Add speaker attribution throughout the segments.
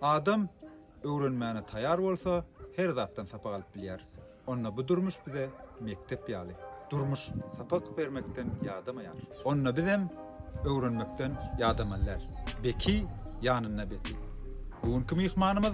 Speaker 1: Adam öwrenmäne taýar bolsa, her zatdan sapak alyp bilýär. Onda bu durmuş bize mekdep ýaly. Durmuş sapak bermekden ýadamaýar. Onda bizem öwrenmekden ýadamalylar. Beki ýanynda beki. Bu günki myhmanymyz.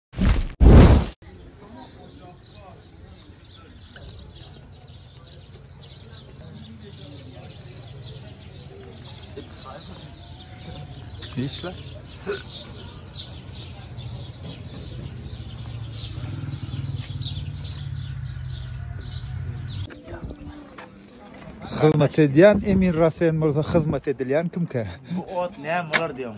Speaker 1: Işle. Hyzmat edýän Emir Rasen bolsa hyzmat edilýän kimkä?
Speaker 2: Bu ot näme bolar diýýän.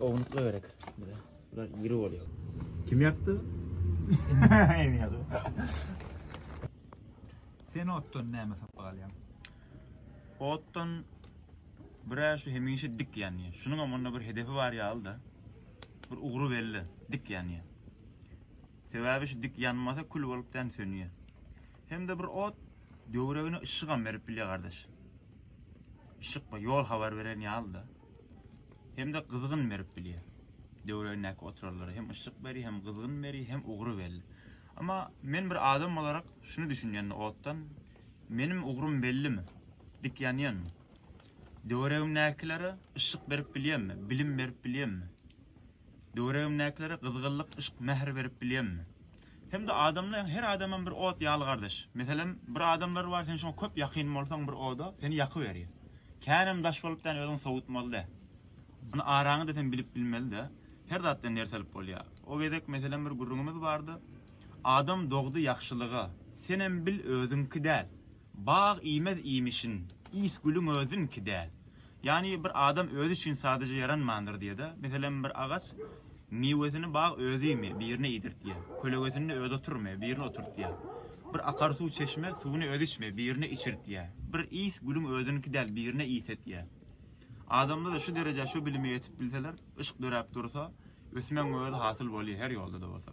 Speaker 2: Ownukla gerek. Bular iri oluyor. Kim yaptı? Emin yaptı.
Speaker 1: Sen otdan näme sapyk alýaň?
Speaker 2: Otdan bir şu hemişe dik ýanýar. Şunuň hem onda bir hedefi bar ýaly da. Bir ugry belli, dik ýanýar. Sebäbi şu dik ýanmasa kül bolup dän sönýär. Hem de bir ot döwregine yşygam berip bilýär gardaş. Işik bu ýol habar beren ýaly da. hem-de gyzgyn berip bilýär. Döwregindäki oturarlara hem yşyk berýär, hem gyzgyn berýär, hem ugry belli. Emma men bir adam bolarak şuny düşünýän otdan, meniň ugrym bellimi? Dik ýanýanmy? Döwregimdäkilere yşyk berip bilýänmi? Bilim berip bilýänmi? Döwregimdäkilere gyzgynlyk yşk mähir berip bilýemmi? Hemde adamlaň her adamam bir ot ýaly gardaş. Meselem bir adamlar bar sen şoňa köp ýakyn bolsaň bir oda seni ýakyberýär. Känem daş bolup däl özüňi sowutmaly dä. Ony araňy da sen bilip bilmeli dä. Her zatdan ders alyp bolýar. O gezek meselem bir gürrüňimiz bardy. Adam dogdy ýagşylyga. Senem bil özüňki däl. Bag iýmez iýmişin, iýs gülüň özüniňki däl. Ýagny bir adam özi üçin sadaja ýaranmandyr diýeda. Meselem bir agaç miwesini bag özi iými, birine iýdirtýä. Kölegesinde özi oturmy, birine oturtýa. Bir akar suw çeşme suwuny özi içmi, birine içirtýä. Bir iýs gülüň özüniňki däl, birine iýs etýä. Adamda-da şu derejä şu bilime ýetip bilseler, yşk döräp dursa, ösmegiň özi hasyl bolýa her ýolda-da bolsa.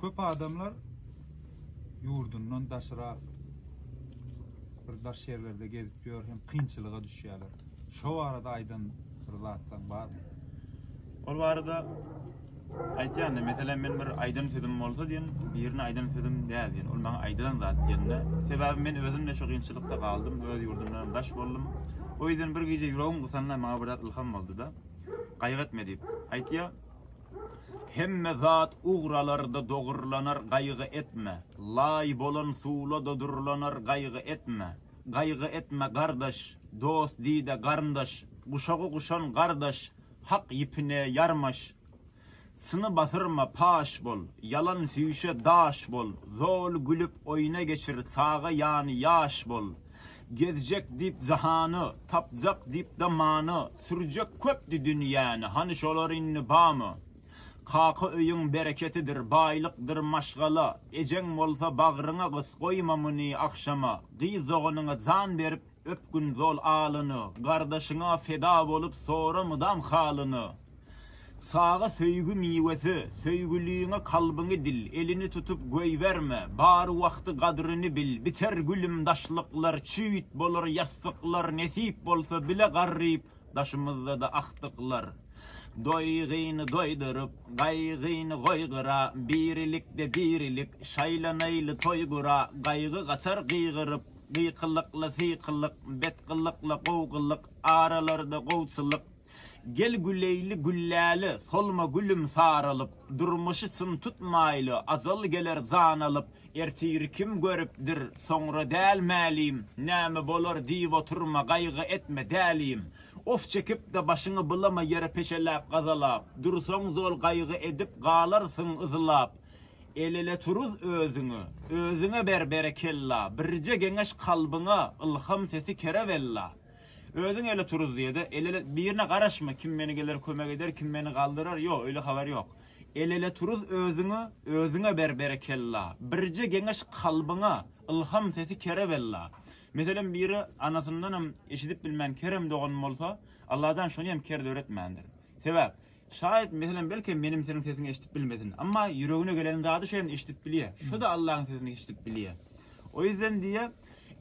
Speaker 1: Köp adamlar yurdundan daşra bir daş yerlerde gezip ýör hem kynçylyga düşýärler. Şo barada aýdan bir zatdan barmy? Ol
Speaker 2: barada Aýtýan-da, meselem, men bir aýdan sözüm bolsa diýen, birine aýdan sözüm däl diýen, ol maňa aýdylan zat diýende, sebäbi men özüm-de şu kynçylykda galdym, öz ýurdumdanam daş boldum. O ýüzden bir gije ýüregim gysanda maňa bir zat ylham boldy-da, Gaýgy etme diýip, aýtýar. Hemme zat ugralar-da dogurlanar, gaýgy etme. Laý bolan suwla-da durlanar, gaýgy etme. Gaýgy etme, gardaş, dost diý-de, garyndaş, guşagy guşan gardaş, Hak ýipine ýarmaş. Çyny batyrma, paş bol, Ýalan süýşe daş bol, Zol gülüp oýna geçir, Çaga ýany ýaş bol. Gezjek diýip jahany, Tapjak diýip-de many, Sürjek köpdi dünýäni, Hany şolar indi bamy? Kaka öýüň bereketidir, Baýlykdyr maşgala, Ejeň bolsa bagryňa gys, Goýma muny agşama. Gyz doganyňa jan berip, Öpgün zol alyny, Gardaşyňa feda bolup sora mydam halyny. Çaga söýgi miwesi, Söýgüliňe kalbyňy dil, Elini tutup goýberme, Bar wagty gadryny bil, Biter gülüm daşlyklar, Çüýt bolar ýassyklar, Nesip bolsa bile garryp, Daşymyzda-da agtyklar. Doýgyny doýduryp, Gaýgyny goý gyra, Birilikde dirilik, Şaýlanaýly toý gura, Gaýgy gaçar gygyryp, Gykyllykly sykyllyk, betgyllykly gowgylyk, aralarda gowçulyk. Gel güleýli gülläli, solma gülüm saralyp, durmuşy çyn tutmaýly, ajal geler jan alyp. Ertiri kim görüpdir, soňra däl mälim, näme bolar diýip oturma, gaýgy etme, dälim. Of çekip-de başyňy bulama ýere peşeläp-gazalap, dursaň zol gaýgy edip galarsyň yzlap. Elele turuz özüňe, özüňe ber berekella, birje geňeş kalbyňa, ylham sesi kerewella. Özüň ele turuz diýede, elele birine garaşma, kim meni geler kömek eder, kim meni galdyrar, ýok, öýle habar ýok. Elele turuz özüňe, özüňe ber berekella, birje geňeş kalbyňa, ylham sesi kerewella. Meselem biri anasyndanam eşidip bilmän kerem dogan bolsa, Allajan şony hem ker döretmändir. Sebäp, Şaýat, meselem, belkem meniň seniň sesiňi eşidip bilmesin. Emma ýüregine gelen zady şem eşidip bilýä. Şo-da Allahyň sesini eşidip bilýä. O ýüzden diýýä,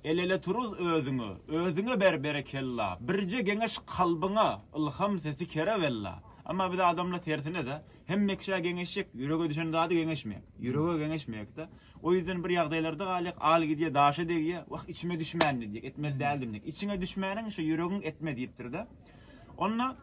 Speaker 2: El-ele turuz özüňe, özüňe ber berekella, birje geňeş kalbyňa, ylham sesi kerewella. Emma biz adamlar tersine-de, hemme kişä geňeşjek, ýürege düşen zady geňeşmeýäk. Ýürege geňeşmeýäk-de. O ýüzden bir ýagdaýlarda galýak, al gidýä, daşa degýä, wah, içime düşmändi diýýäk, etmeli däldim diýýäk. Içiňe düşmäniň, şo ýüregiň etme diýipdir-de. Onda.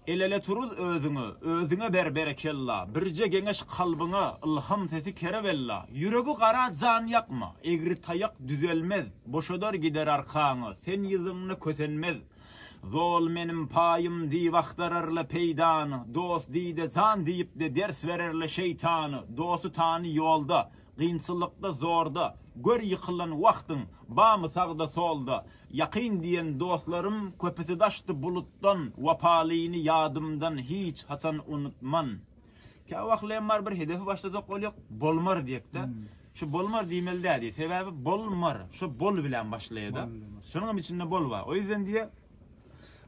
Speaker 2: Elele turuz özüňe, özüňe ber berekella, birje geňeş kalbyňa, ylham sesi kerewella, ýüregi gara jan ýakma, egri taýak düzelmez, boşadar gider arkaňy, sen ýyzyňda kösenmez, zol menim paýym diýip agtararla peýdany, dost diýde jan diýipde ders bererle şeýtany, dosty tany ýolda, gynçylykda zorda, gör ýykylan wagtyň, bamy sagda solda, Ýakyn diýen dostlarym köpüsi daşdy bulutdan Wapalyny ýadymdan hiç haçan unutman Kä wahleýem bar bir hedefi başlajak bolýok Bolmar diýekdä Şu bolmar diýmeli däl diýýä sebäbi bol mar şo bol bilen başlaýada şonuňam içinde bol bar o ýüzden diýýä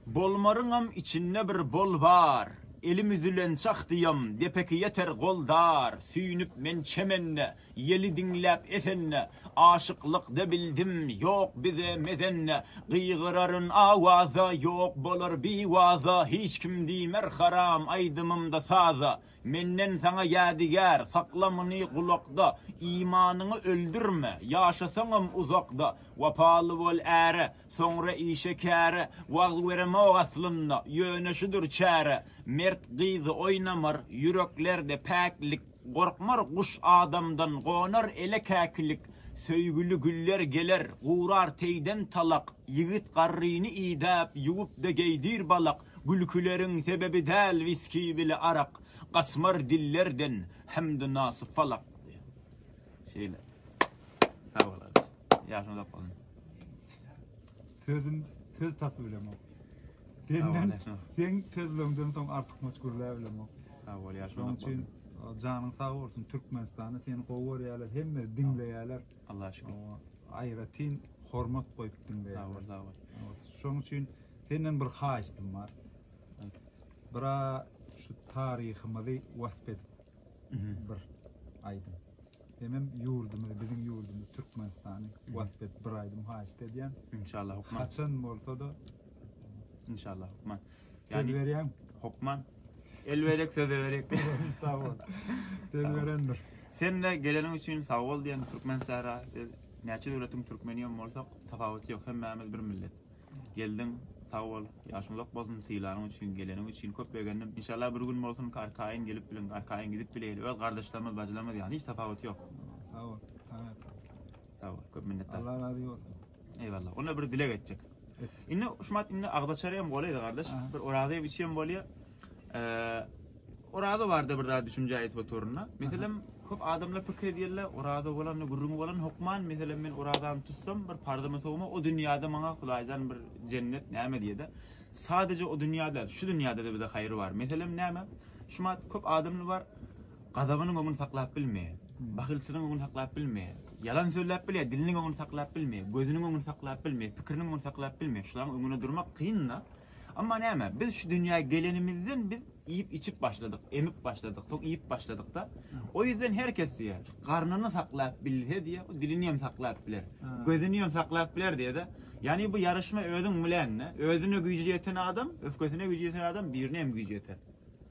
Speaker 2: Bolmaryňam içinde bir bol bar Elim üzülençak diýom depeki ýeter gol dar Süýnüp men çemende Ýeli diňläp esende, Aşyklykda bildim, ýok bize mezende. Gygyraryn awaza, Ýok bolar biwaza, Hiç kim diýmer haram aýdymymda saza. Menden saňa ýadygär, Sakla muny gulakda, Imanyňy öldürme, Ýaşasaňam uzakda. Wapaly bol äre, Soňra işe-käre, Wagyz beremok aslynda, Ýöne şudur çäre. Mert gyzy oýnamar, Ýüreklerde päklik. Gorkmar guş adamdan, gonar ele käkilik, Söýgüli güller geler, gurar teýden talak, Ýigit garryny idäp, ýuwup-da geýdir balak, Gülküleriň sebebi däl wiski bile arak, Gaçmar dillerden Hemdu nasy falak. Şeýle. Sag bol, gardaş. Ýaşyň uzak bolsun. Sözüm
Speaker 1: söz tapy bilemok. Senden, sen sözlöňden soň artykmaç gürlä bilemok. Sağ ol, ýaşy Şoň
Speaker 2: üçin janyň sag
Speaker 1: bolsun Türkmenistanda seni gowy görýärler, hemme diňleýärler. Allah şükür.
Speaker 2: Aýratyn
Speaker 1: hormat goýup diňleýärler. Sağ ol, sağ ol.
Speaker 2: Şoň üçin
Speaker 1: senden bir haýyştym bar. Bira şu taryhymyzy wasp edip bir aýdym. Menem ýurdumyzy biziň ýurdumyzy Türkmenistany wasp et bir aýdym haýyşt edýän. Inşallah hokman. Haçan
Speaker 2: bolsada.
Speaker 1: Inşallah
Speaker 2: hokman. Söz berýän.
Speaker 1: Hokman.
Speaker 2: El berek söz berek. Sag bol.
Speaker 1: Söz berendir. Sen de geleniň
Speaker 2: üçin sag bol diýen Türkmen sähra. Näçe döwletiň türkmeni hem bolsak tapawuty ýok hemmämiz bir millet. Geldiň sag bol ýaşyň uzak bolsun sylanyň üçin geleniň üçin köp begendim inşallah bir gün bolsun ki arkaýyn gelip biliň arkaýyn gidip bileýeli öz gardaşlarymyz bajylarymyz ýaly hiç tapawuty ýok. Sag bol
Speaker 1: saňa sag. Sag bol
Speaker 2: köp minnetdar. Allah razy bolsun.
Speaker 1: Eýwallah onda bir
Speaker 2: dileg etjek. Indi Şumat indi agzaçary hem golaýda gardaş bir orazy hem içi hem bolýa. Oraza barada bir zat düşünje aýdyp oturyn-da. Meselem, köp adamlar pikir edýärler, oraza bolanda, gürrüňi bolanda hökman, meselem, men orazany tutsam, bir parzymy sowma, o dünýäde maňa Hudaýjan bir jennet näme diýer-de. Sadaje o dünýä däl, şu dünýäde-de bize haýry bar. Meselem, näme? Şumat köp adamlar bar, gazabynyň öňüni saklap bilmeýär, bahylçylygyň öňüni saklap bilmeýär, ýalan sözläp bilýär, diliniň öňüni saklap bilmeýär, gözüniň öňüni saklap bilmeýär, pikiriniň öňüni saklap bilmeýär. Şularyň öňünde durmak kyn-da. Emma näme, biz şu dünýä gelenimizden biz iýip-içip başladyk, emip başladyk, soň iýip başladyk-da. O ýüzden her kes diýýär, garnyny saklap bilse diýýär, bu dilini hem saklap biler, gözüni hem saklap biler diýýär-de. Ýagny bu ýaryşma özüň bilen-de. Özüne güýji ýeten adam, öfkesine güýji ýeten adam birine hem güýji ýeter.